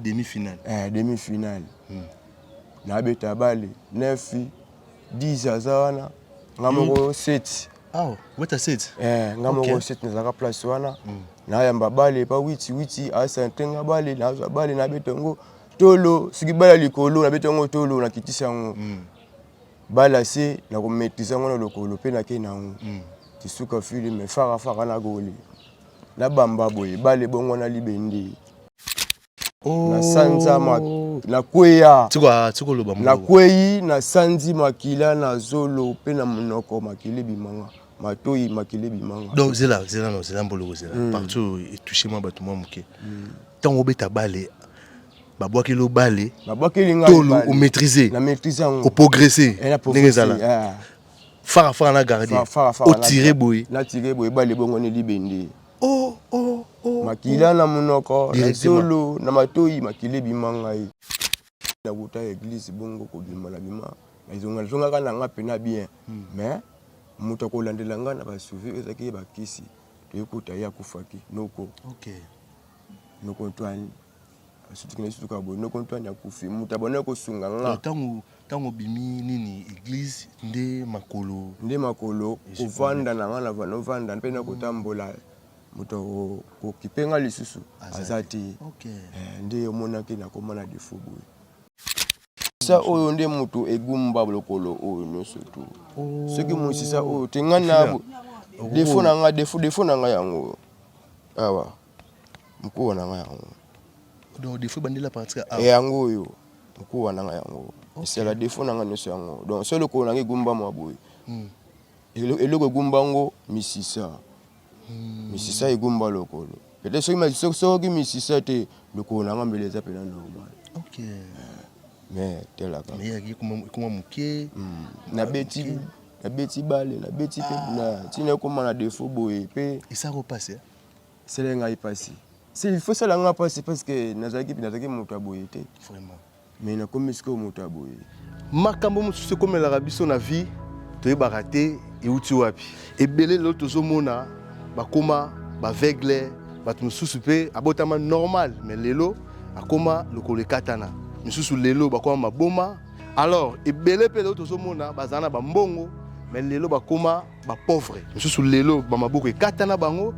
demi finale eh, demi finale hmm. nabeta bale 9 10 aza wana nga hmm. moko 7 awa weta 7 eh nga moko 7 nazalaka place wana hmm. nayamba bale epa witi witi asante nga bale nazwa bale nabeta yango tolo soki bale ya likolo nabeta yango tolo nakitisa yango bale ya se nakometrize yango na lokolo mpe nakei na yango tisuka filme farafara na goli nabamba boye bale bongo na libende na sanza oh. na kweya na kweyi na sanzi makila na zolo mpe na monoko makila ebimanga matoyi makila ebimanga donc zela zela no zela mbolo kozela mm. partout etouche mwa bato mwa moke mm. ntango obeta bale babwakeli yo bale tolo omaîtrise oprogresse eh, ndenge ezala ah. farafara na gardien otire boye na tire boye bale ebongwani libende Oh, oh, oh, makila oh. na monoko na zolo na matoyi makila ebima ngai na kota ya eglise bongo kobima na bima nazongazongaka na nga mpena bien hmm. mais moto akolandela ngai na basuvi ezalaki ye bakisi toyekota ye akufaki noko okay. noko antoine sotikende sutuka boye noko ntwani akufi moto abonaki kosunga nga ntango ntango obimi nini eglise nde makolo nde makolo kovanda na nga na novanda mpe na kotambola moto kokipe nga lisusu aza te eh, nde omonaki nakoma na defo boye Sa oyo nde moto egumba lokolo oyo nyonso tu. Soki mosisa oyo te ngai na defo na ngai defo defo na ngai yango awa mokuwa na ngai yango. Donc defo ebandela partir awa. Eh, yango oyo mokuwa na ngai yango. Esala defo na ngai nyonso yango. Donc solo lokolo na ngai egumba mwa boye. Hmm. Eloko egumba ngo misisa. misisa egumba lokolo pete soki soki misisa te lokolo na nga mbele eza mpena normal me telaka ekoma moke hmm. nabeti nabeti bale nabeti mpe ah. ntina ekoma na defo boye mpe esako mpasi eh? esala ngai mpasi si ilfo esala ngai mpasi parce que nazalaki nazalaki moto ya boye te vraiment me nakomi sikoyo moto ya boye makambo mosusu ekomelaka biso na vie toyebaka te euti wapi ebele lelo tozomona bakoma baveugle bato mosusu mpe abotama normal me lelo akoma lokolo ekatana misusu lelo bakoma maboma alors ebele mpe lelo tozomona bazala na bambongo me lelo bakoma bapauvre misusu lelo bamaboko ekatana bango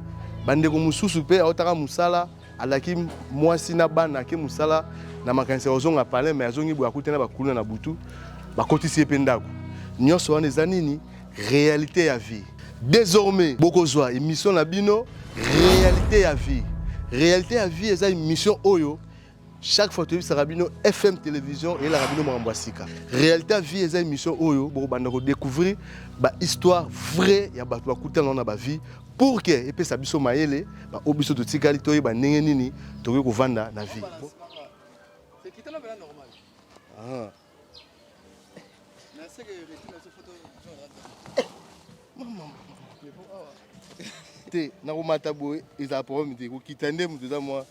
bandeko mosusu mpe aotaka mosala alaki mwasi na bana ake mosala na makanisi ya kozonga palin mai azongi boye akuti na bakuluna na butu bakotisi ye mpe ndako nyonso wana eza nini réalité ya vie désormais bokozwa émission na bino réalité ya vie réalité ya vie eza émission oyo chaque fois toyebisaka bino fm télévision eyelaka bino makambo ya sika réalité vie eza émission oyo bokobanda kodécouvrir bahistoire vrai ya bato bakutanao na bavie pour ke epesa biso mayele baoyo biso totikali toyeba ndenge nini tokoki kovanda na vie ah. te nakomata boye ezala problème te kokita nde moto eza mwa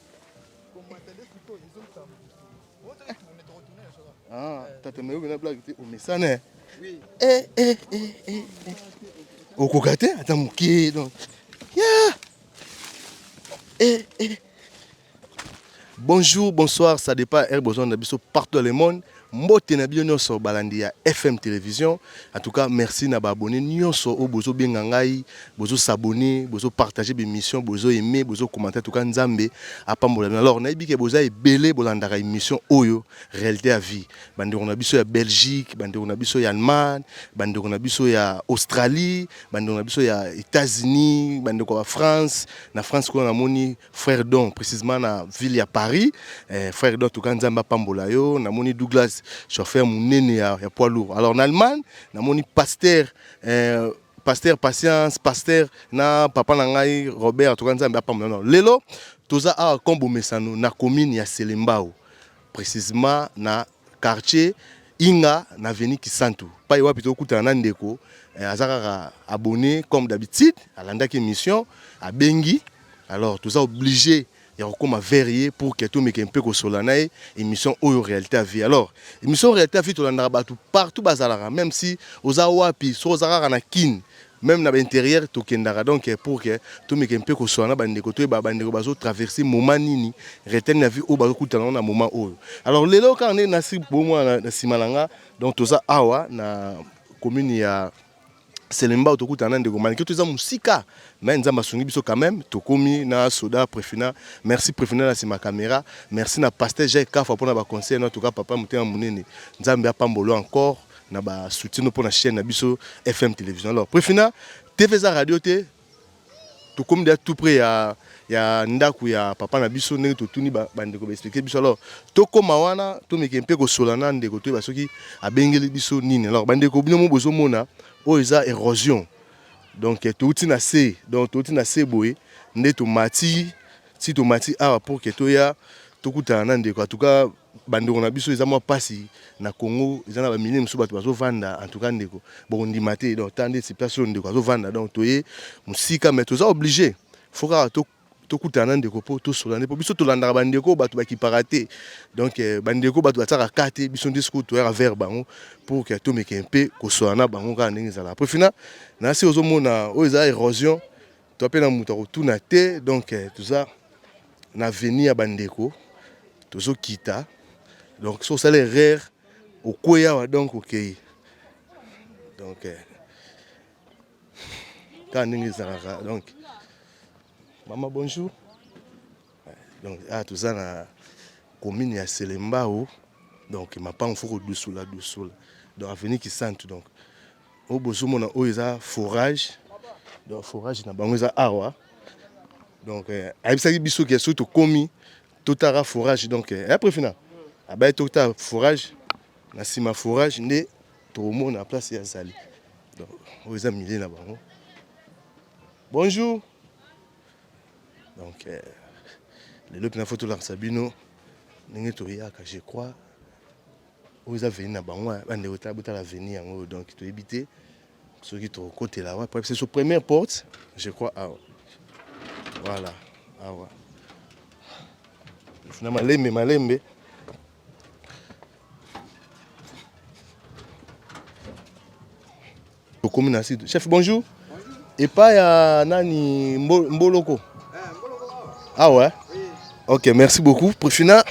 Ah, tata mais oyo na blague te omesana eh, eh, eh, eh, eh. eh. okoka te ata moke donc yeah. eh, eh. bonjour bonsoir ça dépend heure besoin na biso partout dans le monde Mbote na bino nionso balandi ya FM television en tout cas merci na ba abonne nionso oyo bozo benga ngai bozo s'abonner bozo partager ba emission bozo aimer bozo commenter en tout cas nzambe apambola bino alors nayebi ke boza ebele bolandaka emission oyo realite ya vie ba ndeko na biso ya Belgique ba ndeko na biso ya Allemagne ba ndeko na biso ya Australie ba ndeko na biso ya Etats-Unis ba ndeko ya France na France kuna namoni Frère Don, précisément na ville ya Paris. Eh, frère Don, tuka nzambe apambola yo. Na moni Douglas, chauffeur munene ya, ya poids lourd. Alors en Allemagne, na moni pasteur, eh, pasteur Patience, pasteur na papa na ngai Robert, tuka nzambe apambola yo. Lelo, toza awa kombo mesano na commune ya Selembao. precisement na quartier Inga na avenue Kisantu pai wapi tokutana na ndeko eh, aza kaka abonné comme d'habitude alandaki émission abengi alors toza obligé ya kokoma vers ye pour que tomeke mpe kosola na ye émission oyo réalité ya vie alors émission réalité ya vie tolandaka bato partout bazalaka même si oza wapi soki oza kaka na kin Meme na ba interieur tokendaka donc pour que tomeka un peu koswana na ba ndeko toyeba ba ndeko bazo traverser moment nini, retaine ya vie oyo bazo kutana yango na moment oyo. Alors lelo kaka ndenge nasi bomona na sima na nga donc toza awa na commune ya Selembao tokutana na ndeko Maliki toza mosika mais Nzambe asungi biso quand même tokomi na soda Prefina. Merci Prefina na sima camera. Merci na pasteur Jacques Kafa pona ba conseils na tout cas papa motema munene. Nzambe apambolo encore. na ba soutien mpo na chaîne na biso FM télévision alors Prefina TV eza radio te tokomi deja tout près ya ya ndako ya papa na biso ndenge totuni bandeko baexplike biso alors tokóma wana tomeke mpe kosola na ndeko toyeba soki abengeli biso nini alors bandeko bino mo bozomona oyo eza érosion donc touti na se donc touti na se boye nde tomati si tomati awa pour ke toya tokutana na ndeko en tout cas Bandeko na biso eza mwa pasi na Congo eza na ba milieu mosusu bato bazo vanda en tout cas ndeko boko ndima te donc ta ndeti place oyo ndeko azo vanda donc toye mosika mais toza oblige faut kaka to tokutana na ndeko mpo tosola nde mpo biso tolandaka bandeko oyo bato bakipaka te donc eh, bandeko bato batiaka ka te biso nde sikoyo toyaka vers bango pour ke tomeke mpe kosola na bango kaka ndenge ezalaka mpo fina na se ozomona oyo eza erosion Toza mpe na moto akotuna te, donc toza na avenue ya bandeko tozokita, donc soki osali erreur okwei awa donc okei donc kaka ndenge ezalaka donc mama bonjour donc awa toza na commune ya selembao donc mapango fo kodusola dusola donc avenue kisantu donc Oyo bozomona oyo eza forage donc forage na bango eza awa donc eh, ayebisaki biso ke soki tokomi totaka forage donc eh, après fina abaye totala forage na nsima forage nde tokomona place ya zali donc oyo eza milie na bango bonjour donc eh, lelo mpena fo tolakisa bino ndenge toyaka je crois oyo eza veni na bango eh, bandeko tala botala veni yango oyo donc toyebi te soki tokokotela awa po biso première porte je crois awa voilà awa na malembe malembe Tokomi na site. Chef bonjour. Epa ya nani mbo, mboloko. Ah ouais. Ok, merci beaucoup. Prefina.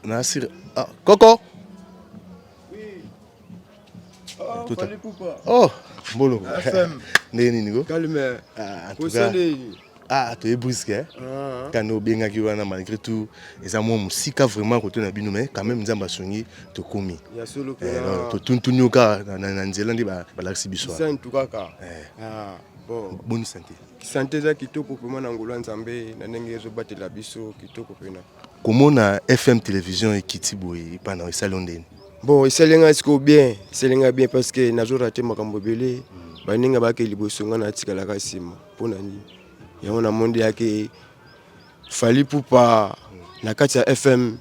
Nasir. Ah, Coco. Tout à- Oh, mboloko. FM. Ndenge nini ko? Calme. Ah, en tout cas. Kosende. Ah, toye briske eh? Ah. kanda obengaki wana malgré tout eza mwa mosika vraiment kote na bino mais quand même nzambe asungi tokomi eh, totuntuni yo kaka na nzela nde balakisi biso eh. ah, boni sante sante eza kitoko mpema na ngolo ya nzambe na ndenge ezobatela biso kitoko mpena komona fm télévision ekiti boye epa na esali yo ndeni bon esali ngai sikoyo bien esali ngai bien parce que nazorate makambo ebele mm. baninga bakei liboso ngai natikalaka nsima Mpo na nini yango na monde yake Fally Ipupa na kati ya FM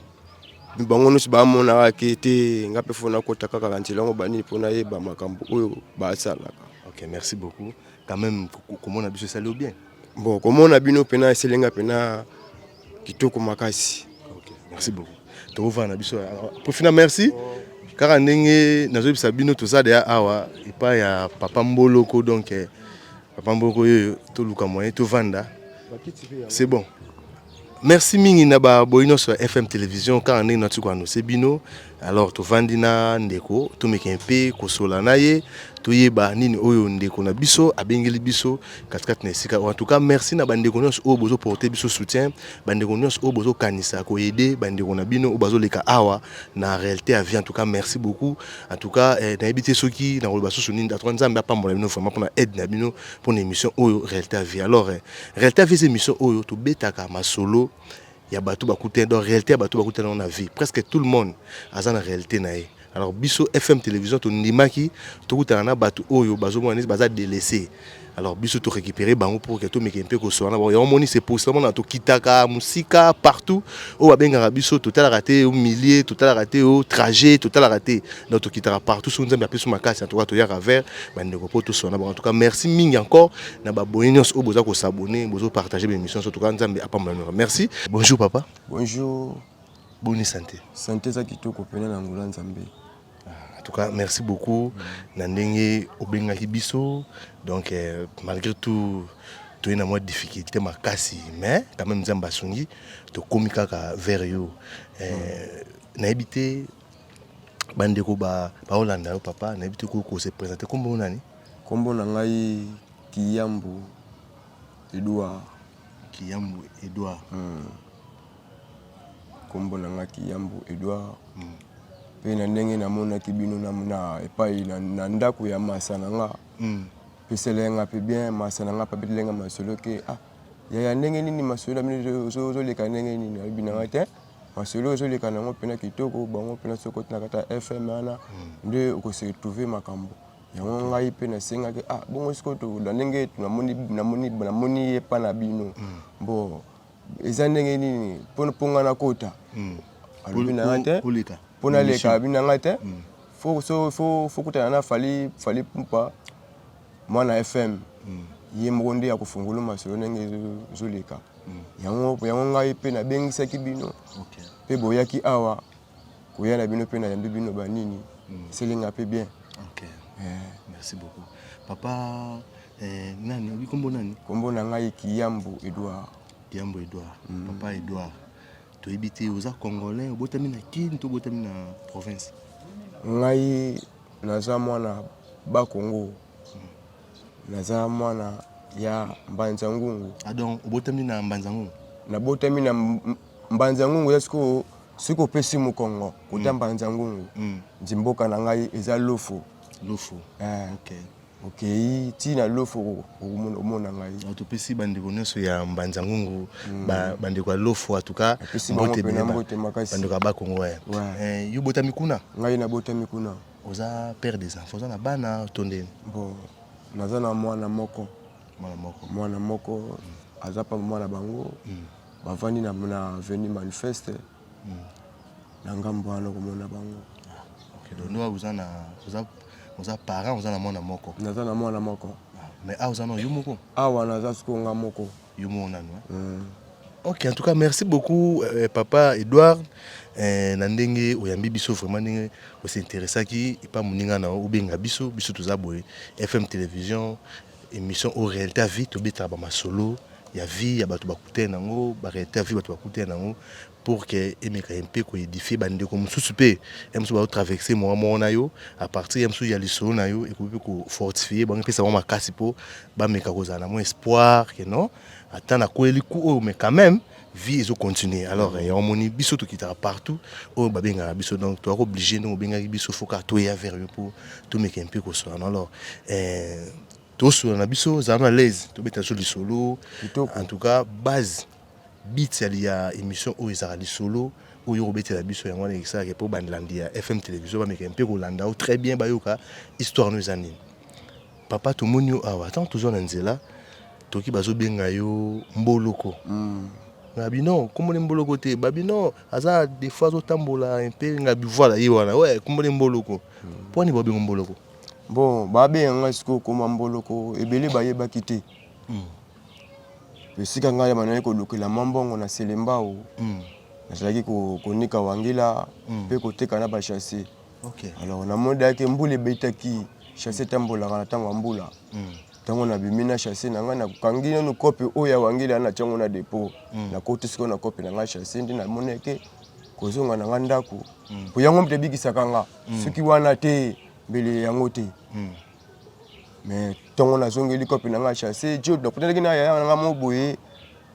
bango nyonso bamonaka ke te nga mpe fo nakota kaka na nzela yango banini mpo nayeba makambo oyo basalaka. Ok, merci beaucoup quand même komona biso esali yo bien. Bon, komona bino mpena esali nga mpena kitoko makasi. Ok, merci beaucoup tokovana na biso profina merci oh. kaka ndenge nazoyebisa bino toza deya awa epai ya papa mboloko donc eh, Papa Mboko yoyo toluka moyen tovanda. C'est bon. Merci mingi na ba boyi nyonso ya FM Television kaka ndenge nati ko annonce bino. Alors tovandi na ndeko tomeka mpe kosola na ye toyeba nini oyo ndeko na biso abengeli biso katikati na esika oyo. En tout cas merci na bandeko nyonso oyo bozo porter biso soutien, bandeko nyonso oyo bozo kanisa ko aider bandeko na bino oyo bazoleka awa na réalité ya vie en tout cas merci beaucoup en tout cas eh, nayebi te soki nakoloba susu nini atoka nzambe apambola bino vraiment mpona aide na bino mpona émission oyo réalité ya vie alors eh, réalité ya vie eza émission oyo tobetaka masolo ya bato bakutani donc réalité ya bato bakutani yango na vie presque tout le monde aza na réalité na ye alors biso fm télévision tondimaki tokutana na bato oyo bazomona neti baza délaissé alors biso to récupérer bango pour que to meke mpe kosoana bango yango moni se posela mona tokitaka mosika partout oyo babengaka biso totalaka te o milieu totalaka te o trajet totalaka te donc tokitaka partout soki nzambe apesi makasi en tout cas toyaka vers bandeko mpo tosoana bango en tout cas merci mingi encore na baboye nyonso oyo boza kosabone bozo partage baémission nyonso toka nzambe apambola mioka merci bonjour papa bonjour boni santé santé eza kitoko mpena na ngola nzambe En tout cas, merci beaucoup. Na ndenge obengaki biso. Donc euh, malgré tout toye na mwa difficulté makasi mais quand même nzambe asungi tokomi kaka vers yo eh, mm. nayebi te bandeko baolanda yo papa nayebi te kokose présente nkombo nani nkombo na ngai kiyambu edouard kiyambu edouard mm. Kombo na nga Kiyambu Edouard. Mm. Pe na ndenge namonaki bino na, na epai na, na ndako ya masa na nga. Mm. Pesela nga pe bien masa na nga pa betela nga masolo ke ah yaya ndenge nini masolo na bino ozoleka ndenge nini alobi na nga te masolo ozoleka na yango mpena kitoko bango mpena soki otina kata fm wana mm. nde okosi retrouve makambo yango ngai mpe nasengaki ah bongo sikoyo na ndenge namoni ye mpa na bino mm. bo eza ndenge nini mpo nga nakota hmm. alobi na nga te mpo naleka alobi na nga te hmm. fokutana na fali fali pupa mwana fm hmm. ye moko nde ya kofungula masolo ndenge ezoleka yango yango ngai mpe nabengisaki bino mpe boyaki awa koya na bino mpe nayambi bino banini eselinga mpe bien okay. yeah. merci beaucoup papa eh, nani obi kombo nani kombo na ngai kiyambo edouard kiyambo edouard mm. papa edouard toyebi te oza congolais obotami na kin to obotami na province ngai naza mwana bakongo mm. naza mwana ya mbanza ngungu adon ah, obotami na mbanza ngungu nabotami na Mbanzi ya ngungu ya sikoyo soki opesi mokongo kota mbanzi ya ngungu nzi mboka na ngai eza lofo lofo eh. okay. okei ti na lofo okomona ngai ah, topesi bandeko nyonso ya mbanzi ya ngungu mm. bandeko ya lofo atuka mbote makasi bandeko ya bakongo eh. eh, yo botami kuna ngai nabotami kuna oza père des enfants oza na bana to nde bon naza na mwana moko mwana moko mwana moko mm. aza pa mwana bango mm. bavandi na, na avenue manifeste mm. na ngambo wana komona bango okay, donc no oza na oza oza parent oza na mwana moko naza na mwana moko ah, mais awa oza na yo moko awa naza sikoyo nga moko yo moko nanu eh? mm. ok en tout cas merci beaucoup euh, papa edouard eh, na ndenge oyambi biso vraiment ndenge osinteresaki epa moninga na yo obenga biso biso toza boye fm télévision Emission oyo realite ya vie tobetaka ba masolo ya vie ya bato bakutani na yango ba realite ya vie bato bakutani na yango pour que emeka mpe ko edifier ba ndeko mosusu mpe ya mosusu bao traverser moa moko na yo à partir ya mosusu ya lisolo na yo ekoki mpe ko fortifier bango epesa bango makasi mpo bameka kozala na mwa espoir que non ata nakweli ku oyo mais quand même vie ezo continuer alors mm. yango moni biso tokitaka partout oyo babengaka biso donc toyaka oblige ndenge obengaki biso foka toya vers yo mpo tomeka mpe kosolana alors eh, tosola na biso zala na laise tobeta biso lisolo en tout cas base bit ya émission oyo ezalaka lisolo oyo okobetela biso yango wana esalaka mpo bandlandi ya fm télévision bameka mpe kolanda yo très bien bayoka histoire no eza nini Papa tomoni yo awa ntango tozwa na nzela toki bazobenga yo mboloko ngabino nkombo ne mboloko te babino aza defo azotambola mpe ngabi voilà ye wana we nkombo ne mboloko mpo wani babengo mboloko bon babenga ngai sikoyo koma mboloko ebele bayebaki te hmm. esika ngai banayaki kolukela mwa mbongo na selembao hmm. nazalaki konika wangila hmm. mpe koteka na bachasser Okay. Alors na mode yake mbula ebetaki chasse tambolaka na ntango ya mbula ntango hmm. nabimi na chasse na ngai nakangi nanu kope oyo ya wangila na ntiango na depot hmm. nakoti sikoyo na kope na ngai chasse nde namoni yake kozonga na ngai ndako hmm. po yango moto ebikisaka nga soki wana te mbele yango te mais ntongo nazongeli kope na ngai chasse jo nakutanaki na yaya na ngai mo boye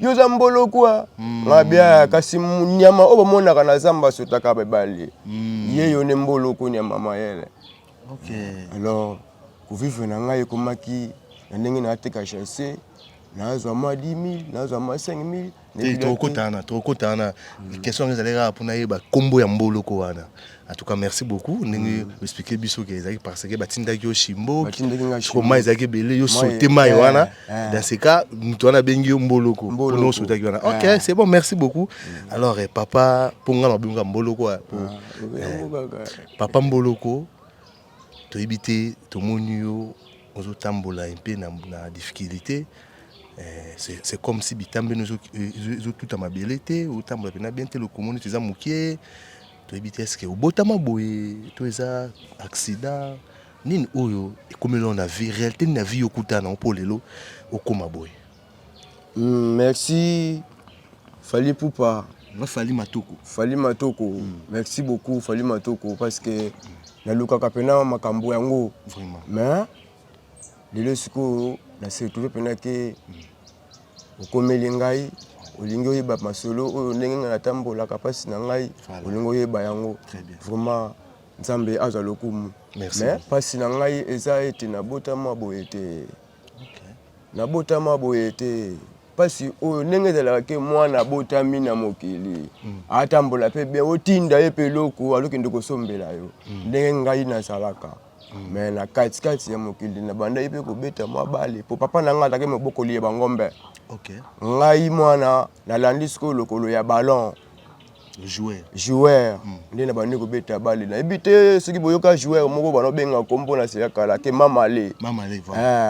yo oza mbolokwa mm. mabia kasi nyama oyo bamonaka na zamba asotaka babali mm. ye yo nde mboloko nyama mayele okay. alors kovivre na ngai ekomaki na ndenge naateka chasse nazwa mwa 10000 nazwa mwa 5000 tokokotana tokokotana question yango ezali kaka mpo nayeba nkombo ya mboloko wana En tout cas, merci beaucoup. Ndenge mm. expliquer biso que ezaki parce que batindaki yo Shimbo, ko mai ezaki belé yo sauter mai eh, wana. Eh. Dans ce cas, mutu wana bengi yo Mboloko. Mboloko sauter ki wana. OK, eh. c'est bon, merci beaucoup. Mm. Alors eh, papa ponga na benga Mboloko ah, po. Ah, papa Mboloko to ebité to moni yo ozo tambola un peu na, na difficulté. Eh, c'est comme si bitambe nous tout à ma belé té, ou tambola na bien té le commune tu za mukie. Toyebi te eske obotama boye to eza accident nini oyo ekomeli yo na vie realite nini ya vie okutana yango mpo lelo okoma boye Mm, merci Fally Ipupa nga fali matoko Fally Matoko merci beaucoup Fally Matoko parce que nalukaka mpena makambo yango vraiment mais lelo sikoyo na se retrouve mpena ke Okomeli ngai, olingi oyeba masolo oyo ndenge ngai natambolaka mpasi na ngai, olingi oyeba yango vraiment Nzambe azwa lokumu. Mais mpasi na ngai eza ete nabotama boye te, nabotama boye te mpasi oyo ndenge ezalaka ke mwana abotami na mokili mm. atambola mpe bien otinda ye mpe eloko alokende kosombela yo mm. ndenge ngai nazalaka me na katikati ya mokili nabandaki mpe kobeta mwa bale mpo papa na ngai azalaki mobokoli ya bangombe okay. ngai mwana nalandi sikoyo lokolo ya ballon joueur hmm. nde na bandi kobeta bale nayebi te soki boyoka joueur moko bana obenga nkombo na sela kala ke mamale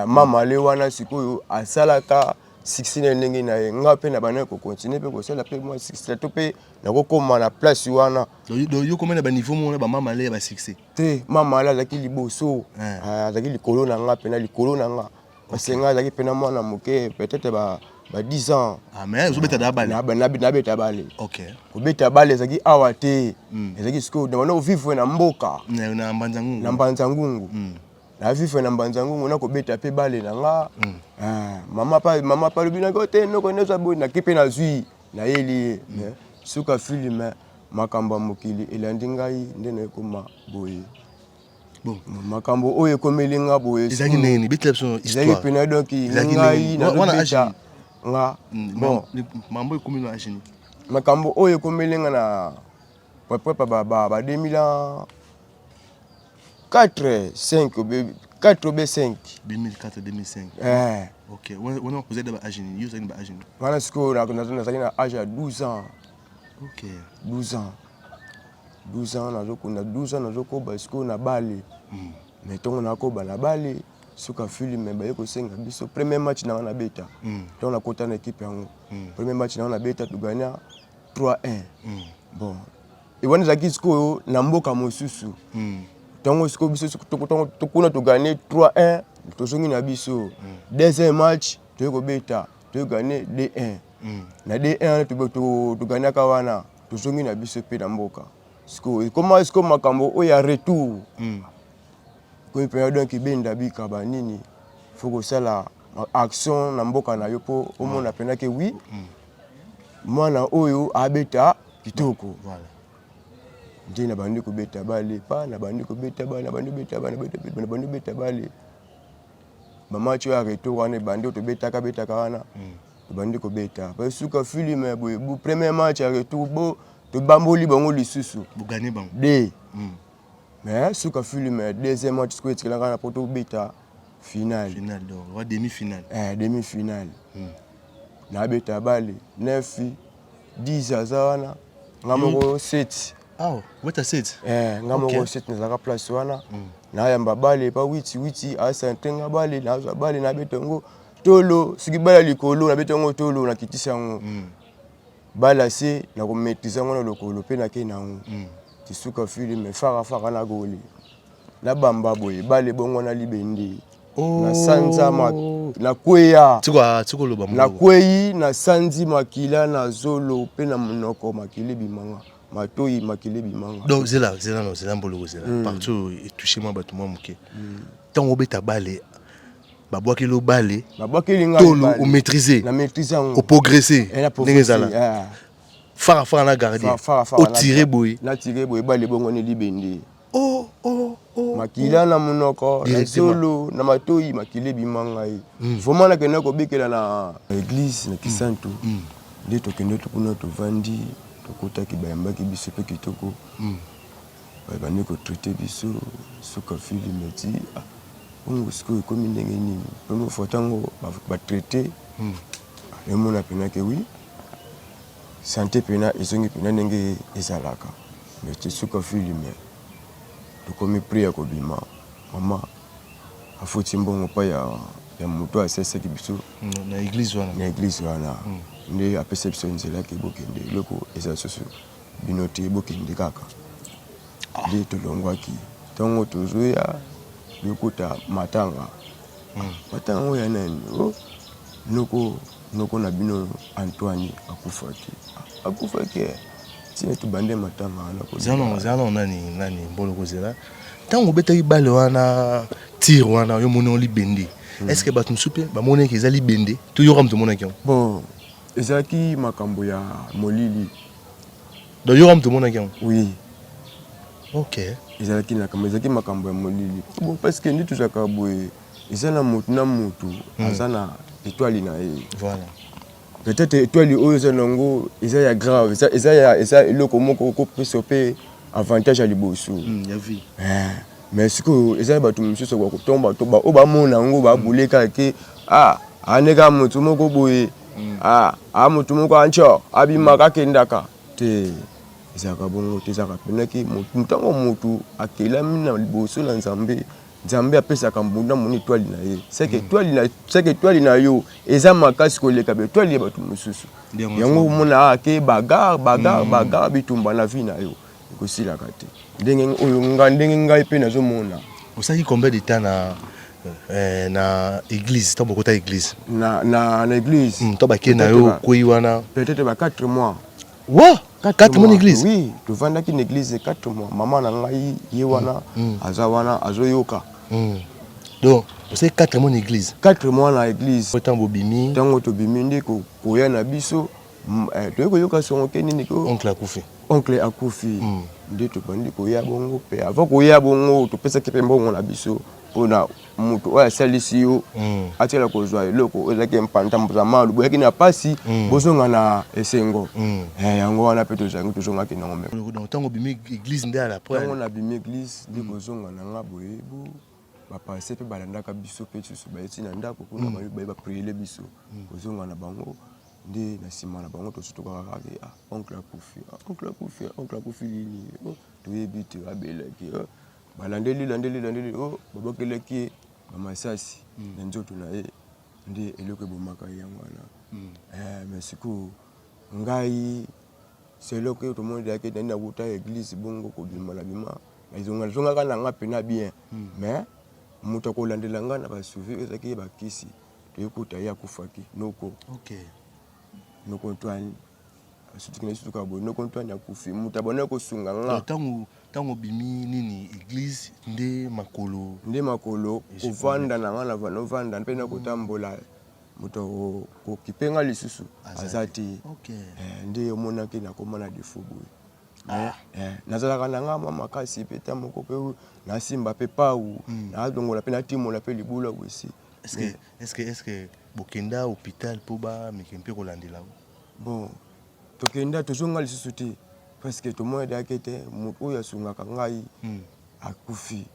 mamale eh, wana sikoyo asalaka succès na ndenge na ye ngai mpe na bana kokontinue mpe kosala mpe mwa succès to mpe nakokoma na place wana yo komona baniveau moko na bamamale ya basuccès te mama ale azalaki liboso ah, azalaki likolo na nga mpena likolo na nga parce nga azalaki mpena mwana moke peut-être ba ba 10 ans ah, mais ozobeta na bale nabeta bale kobeta bale ezalaki awa te hmm. ezalaki sikoyo na banda ovivre na mboka na mbanza ngungu na mbanza ngungu hmm. na vivre na mbanza ngungu nakobeta mpe bale na nga hmm. ah, mama pa mama pa lobi nako te noko neza boye naki mpe nazwi Nayeli ye mais suka film makambo ya mokili elandi ngai nde naekoma boye bon makambo oyo ekomeli nga boye ezalaki ndenge nini betela biso histoire ezalaki pena donc ngai nazobeta nga mm, bon mambo ekomi na agini makambo oyo ekomeli nga na prepare ba ba 2000 ans 4 5 obe 4 obe 5 2004 2005 eh OK wana vous êtes ba âge ni vous êtes ba âge ni wana siko na na nazali na âge ya 12 ans OK 12 ans 12 ans na zoko na 12 ans na zoko ba siko na bali hmm. mais tongo na ko bala bali suka filme baye kosenga biso premier match na wana beta hmm. tongo na kota na équipe yango hmm. premier match na wana beta tuganya 3-1 hmm. bon wana ezalaki sikoyo na mboka mosusu hmm. ntango sikoyo biso tokuna togane 3-1 tozongi na biso hmm. deuxième match toyei kobeta togane d1 hmm. na d1 wana toganaka wana tozongi na biso mpe na mboka sikoyo ekoma sikoyo makambo oyo ya retour komi mpenza donk ebenda bika banini fo kosala action na mboka na yo mpo omona mpenza ke wi mwana oyo abeta kitoko voilà nde nabandi kobeta bale pa nabandi kobeta bale nabandi kobeta bale nabandi kobeta bale mama tio ya retour wana ebandi oyo tobetaka betaka wana hmm. tobandi kobeta pa suka filme ya boye premier match ya retour bo tobamboli bango lisusu de hmm. Mais suka film deuxième match sikoyo etikela kaka po tobeta finale. Finale donc wa demi finale. Eh demi finale. Hmm. Na beta bale 9 10 aza wana nga hmm. moko 7. Ah, weta 7. Eh nga moko 7 nazaka place wana. Hmm. Na yamba bale pa witi witi asa ntenga bale na za bale na beta ngo tolo soki bala likolo na beta ngo tolo na kitisa ngo. Hmm. Ba lasse na ko maitriser yango na lokolo pe na ke na yango. Mm. Ti suka fili me faka faka na goli. Na bamba boye bale bongo na libende. Oh. Na sanza ma na kweya. Tiko tiko loba mo. Na kweyi na sanzi makila na zolo pe na monoko makili bimanga. Matoyi makili bimanga. Donc zela zela no zela mbolo zela. Mm. Partout et toucher moi bato moi moke. Mm. Tango beta bale babwakeli obale babwakeli ngai tolo o maîtriser na maîtriser yango o progresser eh, ndenge ezala ah. fara fara na gardien o tirer boye na tirer boye bale bongo ne libende oh oh oh makila oh. na monoko na zolo na matoyi makila ebima ngai hmm. vraiment nakenda kobikela na église na kisantu hmm. hmm. nde tokende kuna tovandi tokutaki bayambaki biso mpe kitoko Ba bandi ko traite biso suka film tii ah Congo sikoyo ekomi ndenge nini première fois tango ba traite nazo mona pena ke oui sante pena ezongi pena ndenge ezalaka mais ti suka film tokomi prix ya ko bima mama afuti mbongo pa ya ya mutu asesaki biso na eglise wana nde apesa biso nzela ke bokende eloko eza susu bino te bokende kaka nde tolongwaki ntongo tozoya yokota matanga hmm. matanga yango ya nani o oh, noko noko na bino antoine akufaki akufaki eh. ntina tobande matanga wanazano nani nani mbolo kozela ntango obetaki bale wana tire wana yo moni libende hmm. est ce que bato mosusu mpe bamonaki eza libende toyoka moto omonaki yango bon ezalaki makambo ya molili Donc yo kama tomonaki yango? Oui. Ok. Ezalaki na kama ezalaki makambo ya molili. Bon parce que nde tozalaka boye eza na moto na moto hmm. aza na étoile na ye. Voilà. Peut-être étoile oyo eza nango eza ya grave, eza eza ya eza eloko moko okopesa mpe avantage ya liboso. Hmm, ya vie. Eh. Mais sikoyo eza na bato mosusu ya kotomba to baoyo bamona yango babule kaka ke ah ane kaka moto moko boye mm. ah a moto moko anco abimaka akendaka te ezalaka bongo te ezalaka mpenaki ntango motu akelami na liboso na nzambe nzambe apesaka mbunda moni etwali na ye seke mm. etwali na yo eza makasi koleka betwali ya bato mosusu yango omona ake ah, bagar bagar mm. bagar bitumba na vi na yo Ekosilaka te. Ndenge oyo nga ndenge ngai pe nazo mona. Osalaki combien de temps na eh, na église ntango bokota église na, na, na église mm, to bake na yo okwei wana peut-être ba 4 mois wa 4 mois na église oui tovandaki na église 4 mois mama na ngai ye wana mm, mm. aza wana azoyoka mm. donc osali 4 mois na église 4 mois na église ntango bobimi ntango tobimi nde koya na biso Mm, eh, toyei koyoka songo te nini ko oncle akufi oncle akufi mm. nde tobandi koya bongo mpe avant koya bongo topesaki mpe mbongo na biso mpo na moto oyo asalisi yo mm. atikala kozwa eloko ezalaki mpanta mozamalu boyaki na mpasi mm. bozonga na esengo mm. eh, yango wana mpe tozangi tozongaki nango metango bimi eglise nde alatango na bimi eglise nde mm. kozonga na nga boyebo bapanse mpe balandaka biso mpe susu bayeti na ndako kuna mm. baye bapriele biso mm. kozonga na bango nde na nsima na bango tosutokaka kaka ke ah, oncle akufi ah, oncle akufi ah, oncle akufi lini oh, toyebi te abelaki oh, balandeli landeli landeli oh, babakelaki ye bamasasi mm. na nzoto na ye nde eloko ebomaka ye yango wana mm. eh, mais sikoyo ngai seloko yo tomoni dayaki nani nakuta eglise bongo kobima na bima nazongaka na nga mpena bien mm. mais moto akolandela ngai na basuvi ezalaki ye bakisi toyekota ye akufaki noko okay. noko antoine asutiki na esutuka boye noko antoine akufi moto abonaki kosunga nga ntango ntango obimi nini eglise nde makolo nde makolo kovanda na nga novanda mpe nakotambola moto kokipe nga lisusu aza te eh, nde omonaki nakoma na defo boye ah. eh, eh, nazalaka na nga mwa makasi mpe ta moko mpe nasimba mpe pau hmm. nazongola mpe natimola mpe libula wesi Est-ce que, est-ce que, est-ce que bokenda hôpital mpo bameki mpe kolandela ngo bon tokenda tozonga lisusu te parce que tomonadaki ete moto oyo asungaka ngai hmm. akufi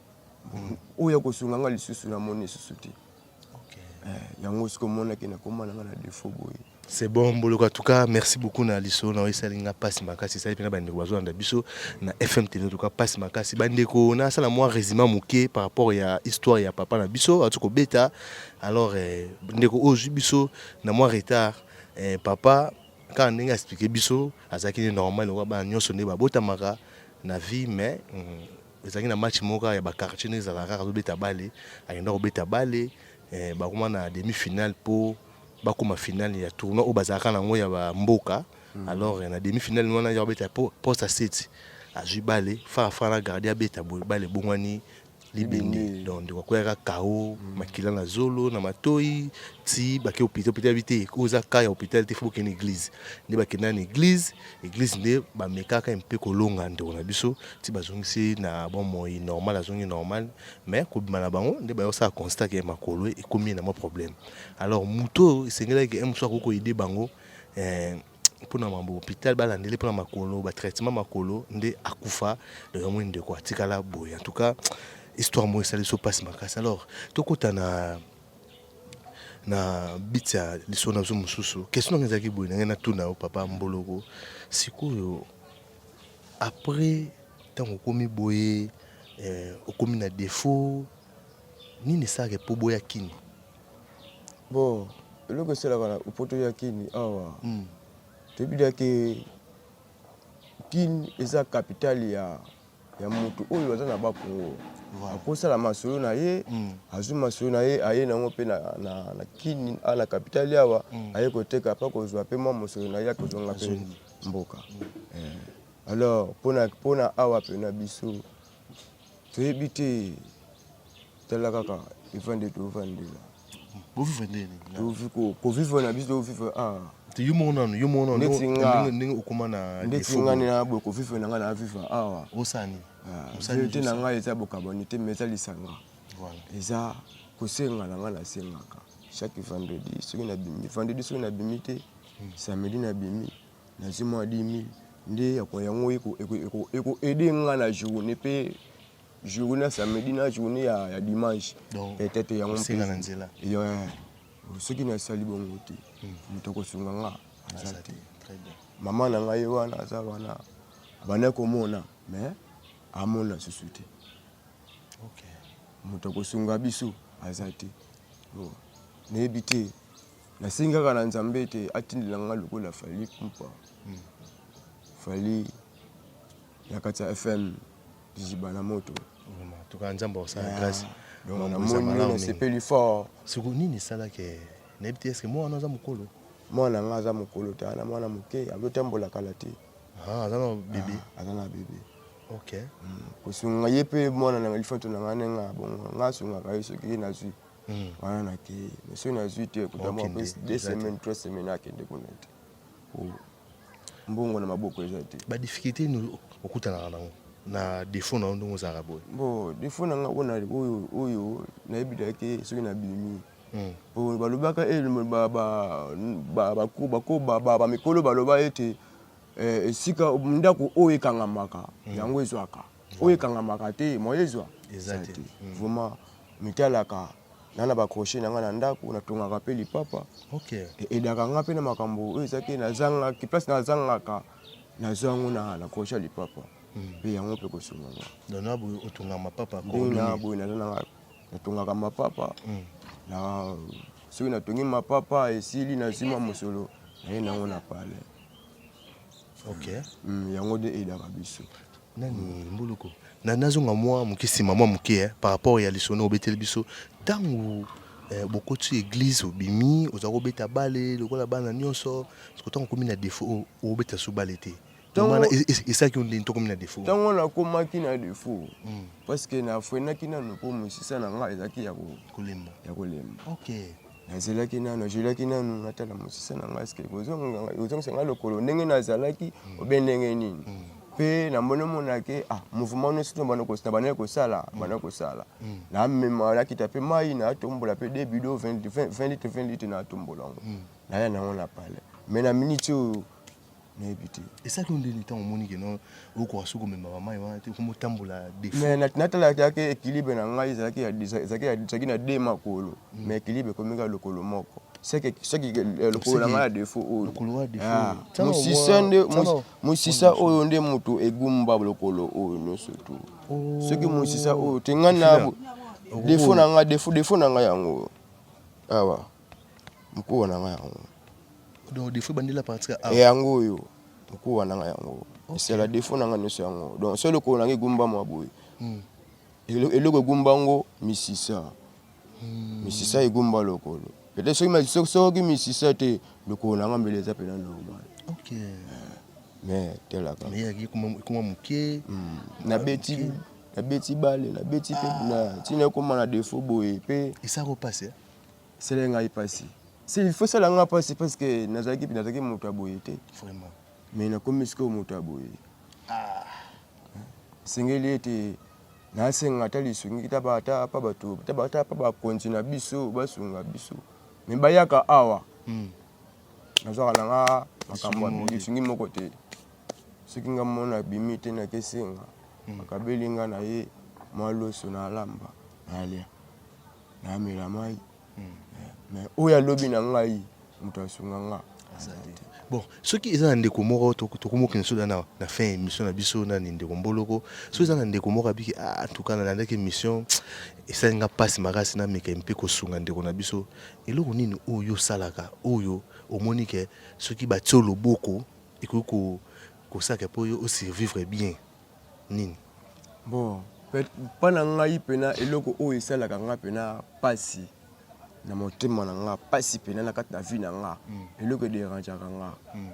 hmm. oyo akosunga ngai lisusu namoni lisusu te eh, yango sikomonaki nakoma na ngai na defo boye C'est bon Mboloka, en tout cas merci beaucoup na liso na esali nga pasi makasi esali pena bandeko bazolanda biso na FM TV en tout cas pasi makasi bandeko na sala mwa résumé moke par rapport ya histoire ya papa na biso atu ko beta alors eh, ndeko ozu biso na mwa retard eh, papa kaka ndenge expliquer biso azalaki ne normal lokola bana nyonso nde babotamaka na vie mais mm, ezalaki na match moko ya baquartier nde ezalaka kaka azobeta bale akenda kobeta bale eh, bakoma na demi-finale mpo bakoma finale ya tournoi oyo bazalaka na yango ya bamboka mm. alors na demi finale wana ya kobeta poste aseti azwi bale farafa na gardi abeta boye bale ebongwani libende donc ndeko akweyaka kao mm. makila na zolo na matoi ti bake hôpital hôpital abi te oyo eza ka ya hôpital te fo bokende église nde bakenda na église église nde bamekaka mpe kolonga ndeko na biso ti bazongisi na bomoi normal azongi normal mais kobima na bango nde bayosaka constat ke makolo ekomi na mwa problème alors moto oyo esengelaki ye mosusu akoki koyede bango eh, mpona mambo hôpital balandeli mpona makolo batraitement makolo nde akufa donc yamoi ndeko atikala boye en tout cas histoire moko esali biso mpasi makasi alors tokota na na bit ya lisolo na biso mosusu question nanga ezalaki boye na ngai natuna yo papa mboloko sikoyo après ntango okomi boye eh, okomi na défaut Nini esalaka po boya Kin? Bon, eloko esalaka na po toya Kin awa mm. toyebi deja ke Kin eza capitale ya, ya moto oyo aza na bakongo voilà. akosala masolo na ye mm. azwi masolo na ye aye nango mpe na, na, na Kin a na capitale awa mm. aye koteka mpe akozwa mpe mwa mosolo na ye akozonga mpe mboka mm. eh. alors mpona awa mpe na biso toyebi te tala kaka evande tovandela boviva ndeni kovivre na biso tovivre ah. te yo moko nanu yo moko nanondenge okoma na ndeti ngai na boye kovivre na ngai na viva awa osani te na ngai eza bokabani te ma eza lisanga eza kosenga na ngai nasengaka chaque vendredi soki nabimi vendredi soki nabimi te hmm. samedi nabimi Na zwi mwa 10000 nde ya kwa yango eko aider nga na journee pe journee ya samedi na journee ya dimanche. Peut-être yango mpe na nzela. Soki na sali bongo te, hmm. moto akosunga nga aza te. Mama na ngai wana aza wana bana komona mais amona susu te. Okay. Moto akosunga biso aza te. Bon. nayebi te Nasengi kaka na Nzambe ete atindela nga lokola Fally Ipupa. Hmm. Fally ya kati ya FM Biziba na moto. Tuka Nzambe akosala grâce. Donc namoni nasepeli fort. Soko nini esalaki eh, nayebi te eske mwana wana aza mokolo? Mwana nga aza mokolo te, ana mwana moke azotambola kala te. Ah, aza na bebe. Ah, aza na bebe. Ok. Hmm, kosunga ye mpe mwana na lifanto na ngai nanga bongo nga asungaka ye soki ye nazwi. mm. wana nakei mais soki nazwi te kuta mwa mpe deux semaines trois semaines akende kuna te oh. mbongo na maboko eza te badifficulté nini okutanaka nango na défaut na yo ndenge ozalaka boye bo défaut na nga wana oyo oyo nayebi da te soki nabimi hmm. po balobaka eh, bamikolo baloba ete eh, esika ndako oyo ekangamaka hmm. yango ezwaka oyo ekangamaka te moye ezwa eza te hmm. vraiment mitalaka na na bacroche na ngai na ndako natongaka mpe lipapa okay. E, edaka ngai mpe na makambo oyo eza te nazangaki place nazangaka nazwa yango na na croche ya lipapa hmm. mpe yango mpe kosunga nga dona boye otonga mapapa ndena boye naza na natongaka mapapa hmm. na soki natongi mapapa esili nazwi mwa mosolo naye nango na palais okay. mm, yango nde eyelaka biso nani mbuluku na nazonga mwa moke nsima mwa moke eh, par rapport ya lisolo obeteli biso ntango eh, bokoti eglise obimi oza kobeta bale lokola bana nyonso soko ntango okomi na defaut obeta su bale te wana esalaki yo ndeni tokomi na defaut ntango wana akomaki na defaut hmm. parce que na frenaki nano mpo mosisa na ngai ezalaki ya kolemba ya kolemba okay. nazelaki nanu najelaki nanu natala mosisa na ngai ske ozongisa ngai lokolo ndenge nazalaki mm. obe ndenge nini mm. mpe namoni omonake ah, mouvement nyonso to bana kosala bana kosala mm. bana kosala namema nakita mpe mai natombola mpe de bido 20 litre 20 litre natombola yango naya nango na pale mai na miniti oyo nayebi te esaki yo ndeni ntango omoni ke no okoka soki komemaka mai wana te okomi otambola defautnatalaki yake ekilibre na ngai ezalaki ezalaki na de makolo ma hmm. ekilibre ekomika lokolo moko seke eh, lokolo na ngai ya defaut oyo mosisa ah. oyo nde moto egumba lokolo oyo nyonso tu oh. soki mosisa oyo te ngai na defaut na ngai defaut na ngai yango awa mokolo na ngai yango donc defo ebandeli na partir ya yango oyo mokolo wana ngai yango esala defo na ngai nyonso yango donc solo lokolo na ngai egumba mwa boye hmm. eloko egumba yango misisa hmm. misisa egumba lokolo peut-être soki soki misisa te lokolo na ngai mbele eza mpena normal okay. mais telaka ekoma moke hmm. nabeti nabeti bale nabeti mpe ah. ntina ekoma na defo boye mpe esako mpasi esali ngai mpasi si il faut esala ngai mpasi parce que nazalaki nazalaki moto ya boye te vraiment mais nakomi sikoyo moto ya boye ah. esengeli ete nasenga ata lisungi ta bata pa bato ta bata pa bakonzi na biso basunga biso me bayaka awa hmm. nazwaka na nga makambo ya lisungi moko te soki nga mona abimi te nakesenga hmm. akabeli nga na ye mwa loso na alamba nalya namela mai mais oyo alobi na ngai moto asunga nga bon soki eza na ndeko moko tokomokende soda na na fin ya émission na biso nani ndeko mboloko soki eza na ndeko moko abiki ah, antuka nalandaki émission esali nga mpasi makasi nameka mpe kosunga ndeko na biso eloko nini oyo osalaka oyo omoni ke soki batio loboko ekoki kosalaka mpo yo osurvivre bien nini? Bon, mpo na ngai mpena eloko oyo esalaka ngai mpena mpasi na motema na ngai, mpasi mpena na kati na vie na ngai, hmm. eloko ederangeaka ngai hmm.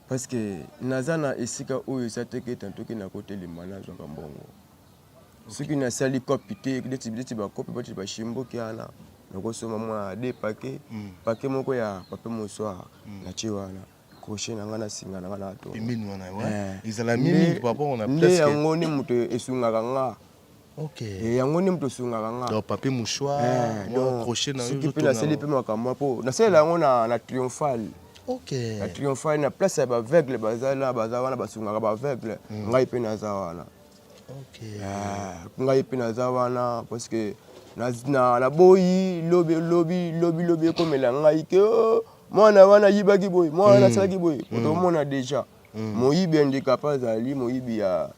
parce que naza na esika oyo eza te ke tantoki nakotelema nazwaka mbongo soki nasali kopi te neti bakopi bati bashimboki wana nakosoma mwa de pake hmm. pake moko ya pape mosoir natie wana crochet na ngai na singa na ngai na to pembeni wana eh. ezala mingi papa on a presque nde yango ni moto esungaka nga ok eh, yango ni moto esungaka nga donc papier mouchoir eh, donc crochet na yo soki mpe naseli mpe makambo mpo nasalela yango na na triomphale okay. na triomphale na place ya baveugle baza na baza wana basungaka baveugle mm. ngai mpe naza wana okay. yeah. ngai mpe naza wana parce que naboyi lobi lobi lobi lobi ekomela ngai ke oh, mwana wana ayibaki boye mwana wana asalaki boye otomona deja moyibi handicap azali moyibi ya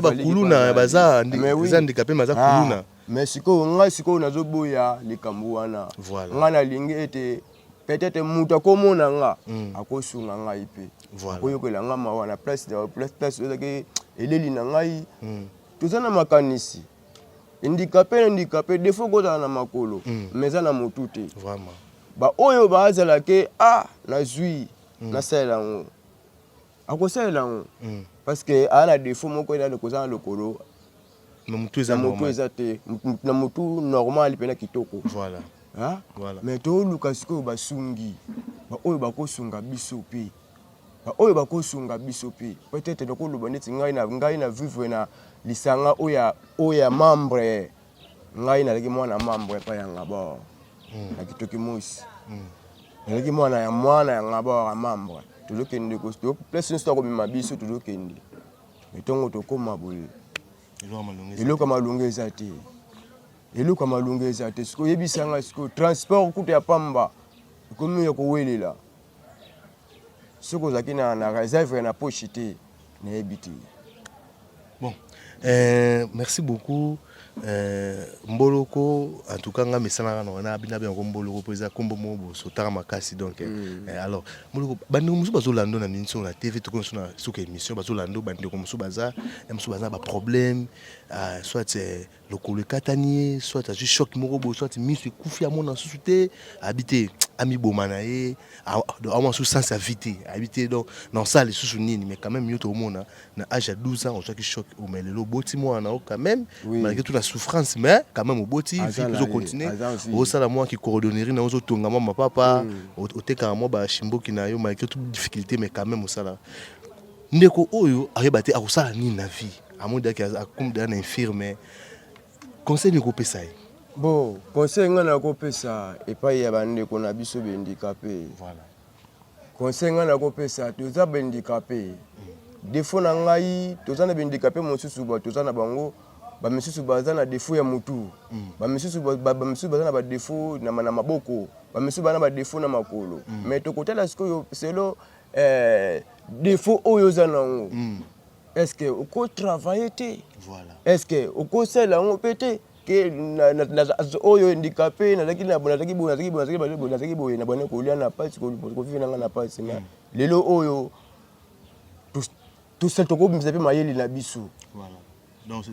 bakuluna baza handicapé maza kuluna mais sikoyo ngai sikoyo nazoboya likambo wana ngai nalingi ete peut-être moto akomona nga mm. akosunga ngai mpe akoyokela nga mawa na place place ezaki eleli na ngai mm. toza na makanisi Handicapé na handicapé défaut kozala na makolo mm. mais eza na motu te vraiment ba oyo bazala ke ah nazui mm. nasalela yango akosalela yango mm. parce que aa na défaut moko eza kozala na lokolo na motu eza motu eza te na motu normal mpe na kitoko voilà hein? voilà mais toluka sikoyo basungi baoyo bakosunga biso mpe ba oyo bakosunga biso mpe peut-être nakoloba neti ngai na ngai na vivre na lisanga oyo oyo ya membre ngai nalaki mwana membre epai ya ngabor hmm. na kitoki mosi hmm. nalaki mwana ya mwana ya ngabor ya membre tozokende place nyonso akomema biso tozokende me ntongo tokóma boye eloko ya malonga eza te eloko ya malonga eza te sikoyo oyebisa ngai sikoyo transport kutu ya pamba ekomi ya kowelela soki ozalaki na, na réserve ya na poche te nayebi te bon euh, merci beaucoup euh, mboloko en tout cas nga mesanaka na wana bina biango mboloko mpo eza nkombo moko bosotaka makasi donc euh, mm. euh, alors mboloko bandeko mosusu bazolando na minso na tv tokoki mosusu na suka émission bazolando bandeko mosusu baza mosusu baza na baproblème euh, soit euh, lokolo ekatani ye soit azwi choc moko boye soit miso ekufi amona susu te abi te amiboma na ye amona susu sens ya vie te abi te donc na osala lisusu nini mais quand même yo tokomona na age ya 12 ans ozwaki choc omai lelo oboti mwana na yo quand même malgré tout na souffrance mais quand même oboti vie mpe ozocontinue osala mwa kicoordonnerie na yo ozotonga mwa mapapa otekaka mwa bashimboki na yo malgré tout difficulté mais quand même osala Ndeko oyo ayeba te akosala nini na vie. Amoni daki akomi deja na infirme. Conseil nini kopesa ye? Bon, conseil ngai nakopesa epai ya bandeko na biso bendikape. Voilà. Conseil ngai nakopesa toza bendikape. Mm. Defo na ngai toza na bendikape mosusu ba toza na bango bamisusu baza na defo ya motu mm. bamisusu bamisusu baza na badefo na maboko bamisusu baza na badefo na makolo mm. mais tokotala sikoyo selo eh, defo oyo oza na yango mm. eske okotravaille te voilà. eske okosala yango mpe te ke oyo endika mpe nazalaki na nazalaki boye nazalaki boye nazalaki boye nazalaki boye na bana kolia na pasi kovive nanga na pasi na mm. lelo oyo tosali tokobimisa mpe mayele na biso donc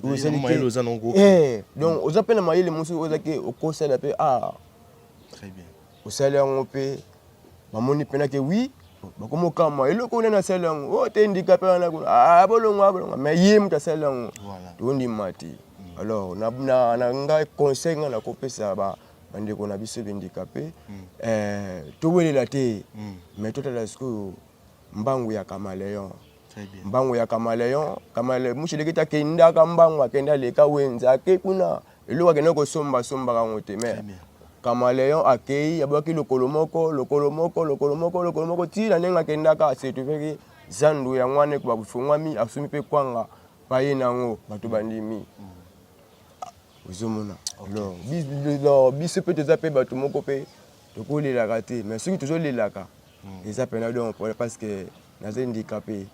eh, oza mpe na mayele mosusu oyo ozaki okosala mpe ah très bien osali yango mpe bamoni mpena ke wi bakomi okamwa eloko nani asali yango o oh, te ndikape wana kuna ah, ah, bolongwa bolongwa mai ye moto asali yango tondima te mm. alors na ngai conseil ngai nakopesa bandeko na biso bendikape mm. eh, towelela te mai mm. totala sikoyo mbangu ya camaleon mbangu ya camaleon kamale mushelekete akendaka mbangu akenda aleka wenze ake kuna eloko akenda kosomba asombaka yango te mais camaleon akei abwaki lokolo moko lokolo moko lokolo moko lokolo moko ti na ndenge akendaka asetuveki zandu yango wana ekoba kofungwami asombi mpe kwanga paye na yango bato bandimi mm. ozomona biso mpe toza mpe bato moko mpe tokolelaka te mais soki tozolelaka hmm. eza pena donc pona parce que naza handicapé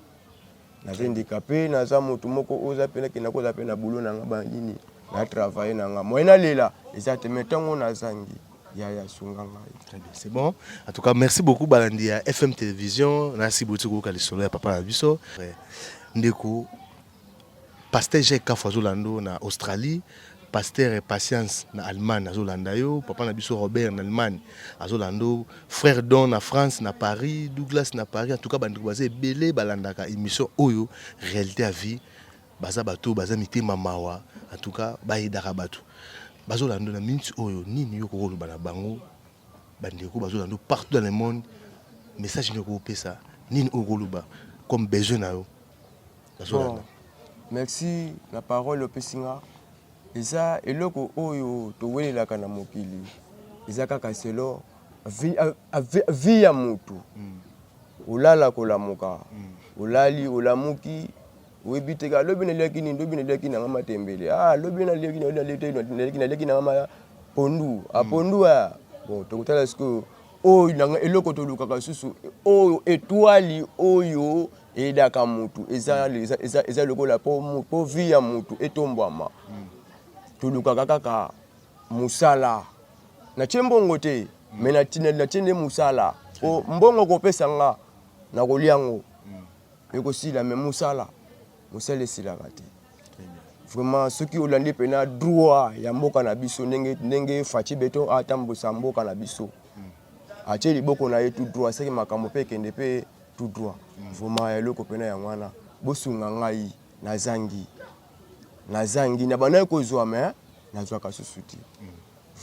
naza handicapé naza motu moko oyo oza pena kenda koza pe na boulot na nga banini na travaille na nga moyen nalela eza te mai ntango nazangi yaya sunga ngai très bien c'est bon en tout cas merci beaucoup balandi ya fm télévision nasi boti koyoka lisolo ya papa na biso ndeko Pasteur Jacques Kafu azo landa yo na Australie, Pasteur Patience na Allemagne azo landa yo, papa na biso Robert na Allemagne azo landa yo, frère Don na France na Paris, Douglas na Paris, en tout cas bandeko baza ebele balandaka émission oyo réalité ya vie baza bato baza mitema mawa en tout cas bayedaka bato bazolanda na minute oyo nini yo okoloba na bango bandeko bazolanda partout dans le monde message nini okopesa nini okoloba comme besoin na yo nazolanda merci na parole opesi nga eza eloko oyo towelelaka na mokili eza kaka selo vi ya motu hmm. olala kolamuka hmm. olali olamuki oyebi te ka lobi naliaki nini lobi naliaki nanga matembele ah lobi naliaki naliaki naliaki nanga ma pondu a ah, hmm. pondu a ah. bon tokotala sikoyo oyo nanga eloko tolukaka lisusu oyo etwali oyo eyedaka mutu eza eza eza lokola po po vie ya mutu etombwama hmm. tolukaka kaka musala na tie mbongo te hmm. me na tie nde musala po mbongo kopesa nga nakolia yango ekosila me mosala mosala esilaka te vraiment soki olandi mpena droit ya mboka na biso ndenge, ndenge faci beton atambwisa mboka na biso atie liboko na ye tout droit seke makambo mpe ekende mpe tout droit vraiment ya eloko mpena yango wana bosunga ngai nazangi nazangi na bandaki kozwa me nazwaka susu te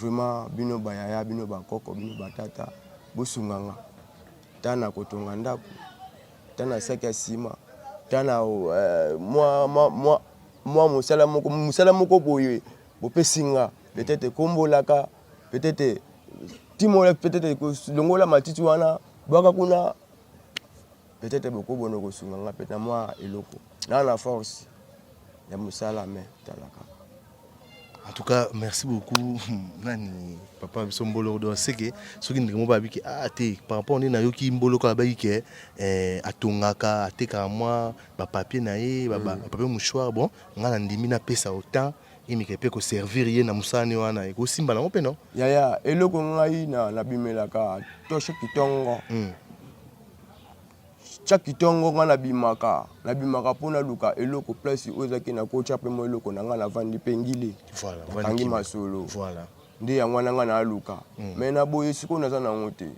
vraiment bino bayaya bino bakoko bino batata bosunga nga ntango nakotonga ndako ata na saki ya nsima ata na euh, mwa, mwa, mwa, mwa mosala moko mosala moko boye bopesi nga petete ekombolaka petete timola petete longola matiti wana bwaka kuna petete bokobona kosunga nga pete na mwa eloko na na force ya mosala me talaka En tout cas, merci beaucoup. Nani, papa, biso mbolo do seke soki ndenge mo babi ke ah te par rapport ni na yoki mbolo ka babi ke eh atongaka ateka mwa ba papier na ye ba ba mm. papier mouchoir bon nga na ndimi na pesa autant imike mpe koservir ye na mosani wana ekosimba nango mpe no yaya eloko ngai na nabimelaka toshe kitongo mm. Tia kitongo nga na bimaka na bimaka po naluka eloko place oyo ezaki na kotia pe mwa eloko na nga na vandi pe ngili Voilà, vandi kangi kimia. masolo Voilà. nde yango wana nga naaluka me na boye sikoyo naza na yango te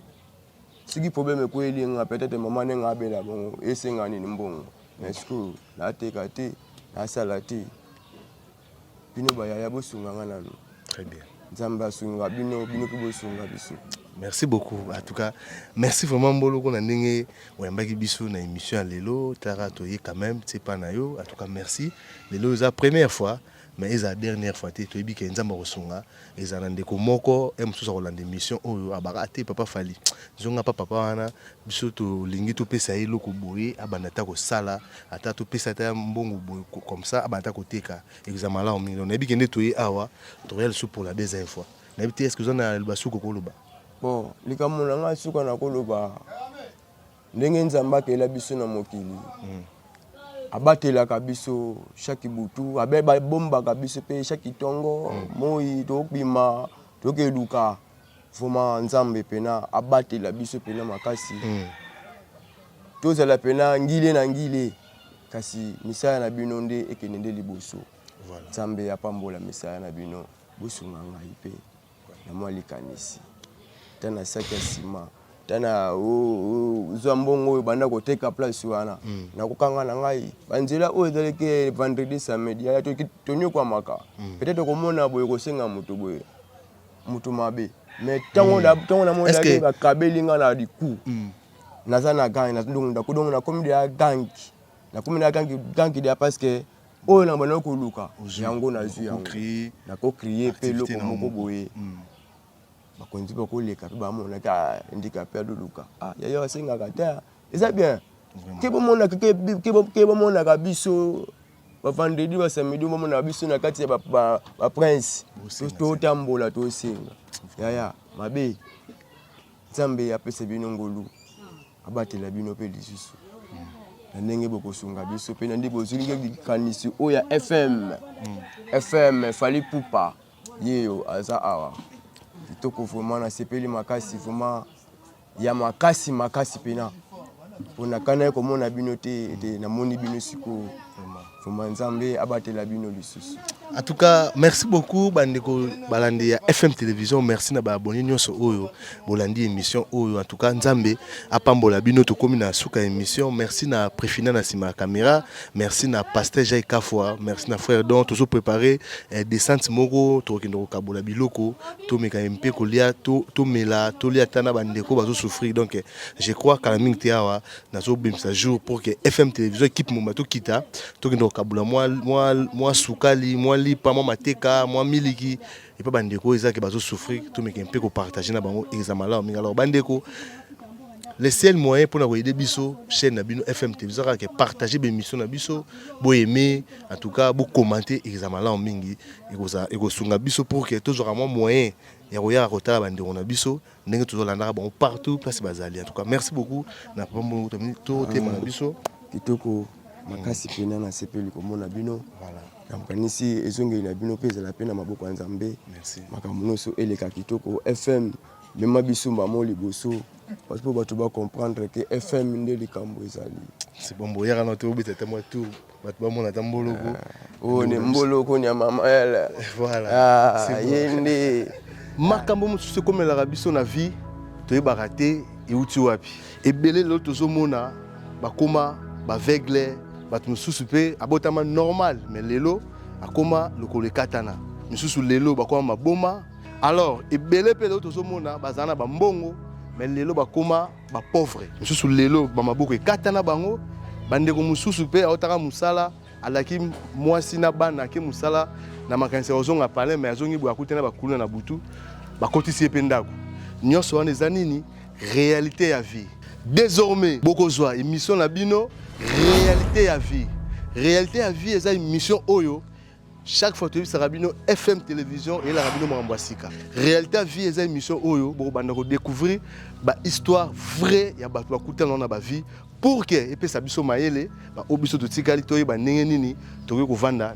soki problème ekweli nga peut-être mama nde nga abela bongo esenga nini mbongo me sikoyo nateka te nasala te Bino ba yaya bo sunga nga nanu. Très bien. Nzambe asunga bino, bino pe bosunga biso. Merci beaucoup. En tout cas, merci vraiment Mboloko na ndenge oyambaki biso na émission ya lelo. Tara toye quand même, c'est pas na yo. En tout cas, merci. Lelo eza première fois, mais eza dernière fois te. Toyebi ke Nzambe akosunga. Ezala na ndeko moko e mosusu akolanda emission oyo abaka te papa Fally zonga pa papa wana biso tolingi topesa ye eloko boye abanda ata kosala ata topesa ata mbongo boye comme ça abanda ata koteka ekozala malamu mingi donc nayebi kende toye awa tokoya lisusu pour la deuxième fois nayebi te est ce que oza na liloba suku okoloba bon likambo na ngai suka nakoloba Ndenge Nzambe akela biso na mokili, abatelaka biso chaque butu, abe babombaka biso pe chaque tongo, mm. moi tokobima tokeluka vraimen Nzambe pena abatela biso pena makasi mm. tozala pena ngile na ngile kasi misala na bino nde ekende nde liboso voilà. Nzambe apambola misala na bino bosunga ngai pe na mwa likanisi ta na saki ya sima ta na zwa mbongo oyo banda koteka place wana mm. na kokanga na ngai banzela oyo ezalaki vendredi samedi yaya tonyokwamaka mm. peut-être okomona boye kosenga moto boye moto mabe mais ntango mm. namonaki bakabeli ngai na liku mm. naza na gangi donc nakomi deya gangi nakomi na gangi gangi deya parce que oyo na bana koluka yango nazwi yango nako crie mpe eloko moko boye hmm. bakonzi bakoleka mpe bamonaki ah, handikape aloluka ah, yaya basengaka te ah, eza bien ke bamonaka biso bavandredi basamedi bamonaka biso na kati ya baprince totambola tosenga yaya mabe nzambe apesa bino ngolu abatela bino mpe lisusu na ndenge bokosunga biso mpe na nde bozwili likanisi oyo ya fm fm fali pupa yeyo aza awa kitoko vraimen nasepeli makasi vraimen ya makasi makasi mpena mpo nakanaki komona bino te ete namoni bino sikoyo Vraiment Nzambe abatela bino lisusu. En tout cas, merci beaucoup bandeko balandi ya FM Télévision. Merci na ba abonnés nyonso oyo bolandi émission oyo. En tout cas, Nzambe apambola bino tokomi na suka émission. Merci na Prefina na sima caméra. Merci na Pasteur Jay Kafwa. Merci na frère Don tozo préparer eh, descente moko tokende ko kabola biloko to meka mpe kolia to to mela to lia tana bandeko bazo souffrir. Donc je crois kala mingi te awa nazobimisa jour pour que fm télévision équipe moma tokita tokende kokabula mwa sukali mwa lipa mwa mateka mwa miliki epa bandeko oyo ezalaki bazosouffrir tomeke mpe kopartage na bango eza malamu mingi alors bandeko le seul moyen mpona koyede biso chaîne na bino fm télévision kaka partage bémission na biso boyeme en tout cas bocommente eza malamu mingi ekosunga biso pour que tozwaka mwa moyen ya koyaka kotala bandeko na biso ndenge tozolandaka bango partout place bazali en tout cas merci beaucoup na papa mbongo totema na biso kitoko makasi mpena nasepeli komona bino nakanisi ezongeli na bino mpe ezala mpe na maboko ya nzambe makambo nyonso eleka kitoko fm mema biso mbamo liboso parce mpo bato bacomprendre ke fm nde likambo ezali c'est bon boyaka na te obeta te mwa tour bato bamona ata mboloko ah, oyo ni mboloko ni ya mama yala voilà ah, ye nde makambo mosusu ekomelaka biso na vie toyebaka te euti wapi ebele lelo tozomona bakoma baveugle bato mosusu mpe abotama normal me lelo akoma lokolo ekatana misusu lelo bakoma maboma alors ebele mpe lelo tozomona bazala na bambongo me lelo bakoma ba pauvre mosusu lelo bamaboko ekata na bango bandeko mosusu mpe aotaka mosala alaki mwasi na bana ake mosala na makanisi ya kozonga palin mai azongi boye akuti na bakuluna na butu bakotisi ye mpe ndako nyonso wana eza nini réalité ya vie désormais bokozwa émission na bino réalité ya vie réalité ya vie eza émission oyo chaque fois toyebisaka bino fm télévision eyelaka bino makambo ya sika réalité ya vie eza émission oyo bokobanda kodécouvrir bahistoire vrai ya bato bakutana na bavie pour ke epesa biso mayele baoyo biso totikali toyeba ndenge nini tokoki kovanda